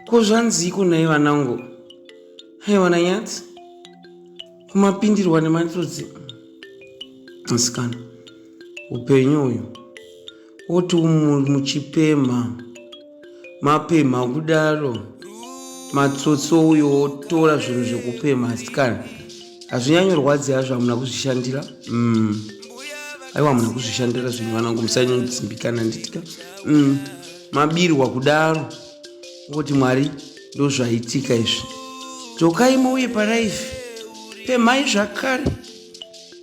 Ko zvanziiko nhai vanangu? Haiwa naNyati, kumapindirwa nematsotsi musikana upenyu uyu woti muchipemha mapemha kudaro matsotsi ouyo wotora zvinhu zvekupemha asikana hazvinyanyorwadzi hazvo hamuna kuzvishandira mm. aiwa hamuna kuzvishandira zvinhu vanangu musanyanyodzimbikana nditika mm. mabirwa kudaro kuti mwari ndozvaitika izvi dzokai muuye paraifi pemhai zvakare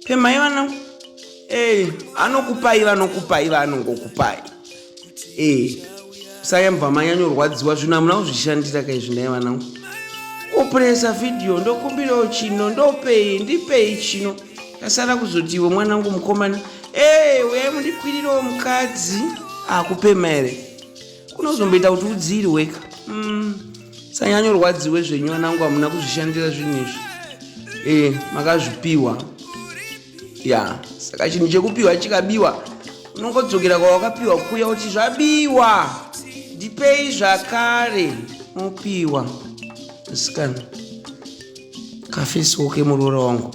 pemhai vana ee anokupai vanokupai vanongokupai ee sayambva manyanyorwadziwa zvinhu hamuna kuzvishandira kaizvi ndai vanangu opresa vhidhiyo ndokumbirawo chino ndopei ndipei chino tasara kuzoti iwe mwanangu mukomana Hey, eh, uyai mundikwirirewo mukadzi akupema here unozomboita kuti udziirwe ka mm. sanyanyorwadziwe zvenyu vanangu hamuna kuzvishandira zvinhu izvi e makazvipiwa ya saka chinhu chekupiwa chikabiwa unongodzokera kwawakapiwa kuya kuti zvabiwa ndipei zvakare mopiwa musikana kafesi woke muroora wangu